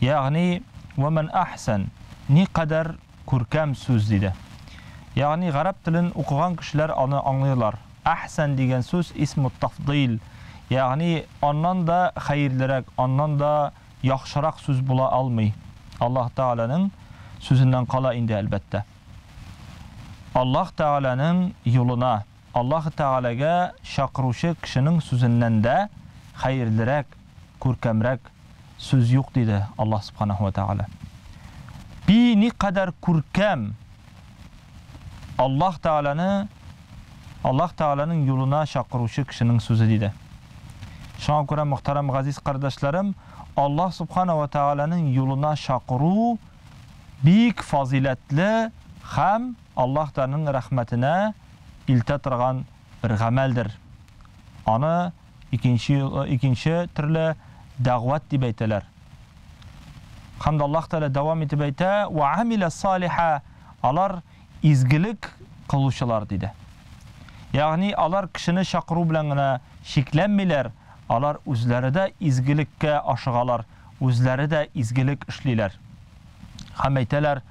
Ягъни, вә мән әхсән, никадәр күркәм сүз, диде. Ягъни, гарәп телен укыган кешеләр аны аңлыйлар. Әхсән дигән сүз исму тафдыйль, ягъни, аннан да хәерлерәк, аннан да яхшырак сүз була алмый. Аллаһ Тәгаләнең сүзеннән кала инде, әлбәттә. Аллаһ Тәгаләнең юлына, Аллаһ Тәгаләгә чакыручы кешенең сүзеннән дә хәерлерәк, күркәмрәк сүз юк, диде Аллаһ Субханаһу вә Тәгалә. Пи никадәр күркәм! Аллаһ Тәгаләне, Аллаһ Тәгаләнең юлына чакыручы кешенең сүзе, диде. Шуңа күрә, мөхтәрәм газиз кардәшләрем, Аллаһ Субханаһу вә Тәгаләнең юлына чакыру бик фазыйләтле һәм Аллаһ Тәгаләнең рәхмәтенә илтә торган бер гамәлдер. Аны Икенче икенче төрле дәгъват дип әйтәләр. Һәм дә Аллаһ Тәгалә дәвам итеп әйтә, "Ва амиля салиха", алар изгелек кылучылар диде. Ягъни алар кешене чакыру белән генә чикләнмиләр, алар үзләре дә изгелеккә ашыгалар, үзләре дә изгелек эшлиләр. Һәм әйтәләр,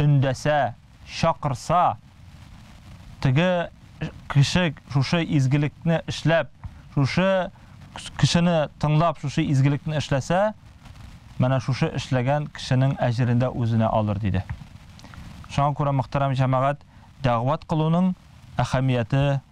өндәсә, чакырса, теге кеше шушы изгелекне эшләп, шушы кешене тыңлап, шушы изгелекне эшләсә, менә шушы эшләгән кешенең әҗерен дә үзенә алыр, диде. Шуңа күрә, мөхтәрәм җәмәгать, дәгъват кылуның әһәмияте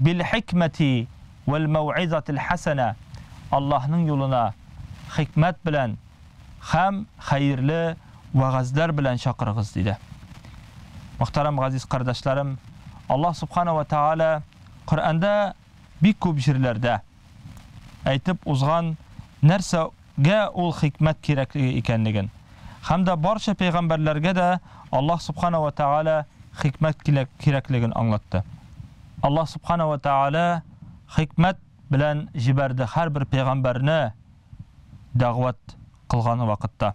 Бил-хикмәти вәл-мәү'изатил хәсәнә, Аллаһның юлына хикмәт белән һәм хәерле вәгазьләр белән чакырыгыз, диде. Мөхтәрәм газиз кардәшләрем, Аллаһ Субхана вә Тәгалә Коръәндә бик күп җирләрдә, әйтеп узган, нәрсәгә ул хикмәт кирәклеге икәнлеген. Һәм дә барча пәйгамбәрләргә дә Аллаһ Субхана ва Тәгалә хикмәт кирәклеген аңлатты. Аллаһ Субхана ва Тәгалә хикмәт белән җибәрде һәрбер пәйгамбәрне дәгъват кылган вакытта.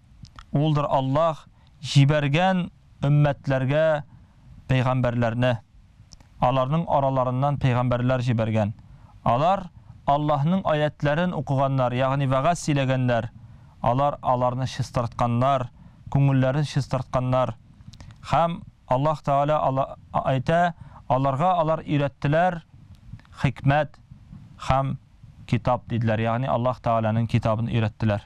Улдыр Аллаһ җибәргән өммәтләргә пәйгамбәрләрне, аларның араларыннан пәйгамбәрләр җибәргән. Алар Аллаһның аятьләрен укыганнар, ягъни вәгазь сөйләгәннәр, алар аларны чистартканнар, күңелләрен чистартканнар. Һәм Аллаһ Тәгалә әйтә, аларга алар өйрәттеләр хикмәт һәм китап, диделәр, ягъни Аллаһ Тәгаләнең китабын өйрәттеләр.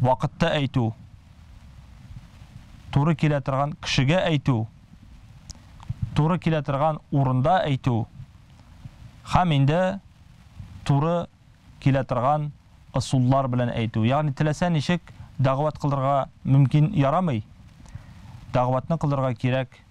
Вакытта әйтү, туры килә торган кешегә әйтү, туры килә торган урында әйтү һәм инде туры килә торган ысуллар белән әйтү. Ягъни теләсә ничек дәгъват кылырга мөмкин ярамый. Дәгъватны кылырга кирәк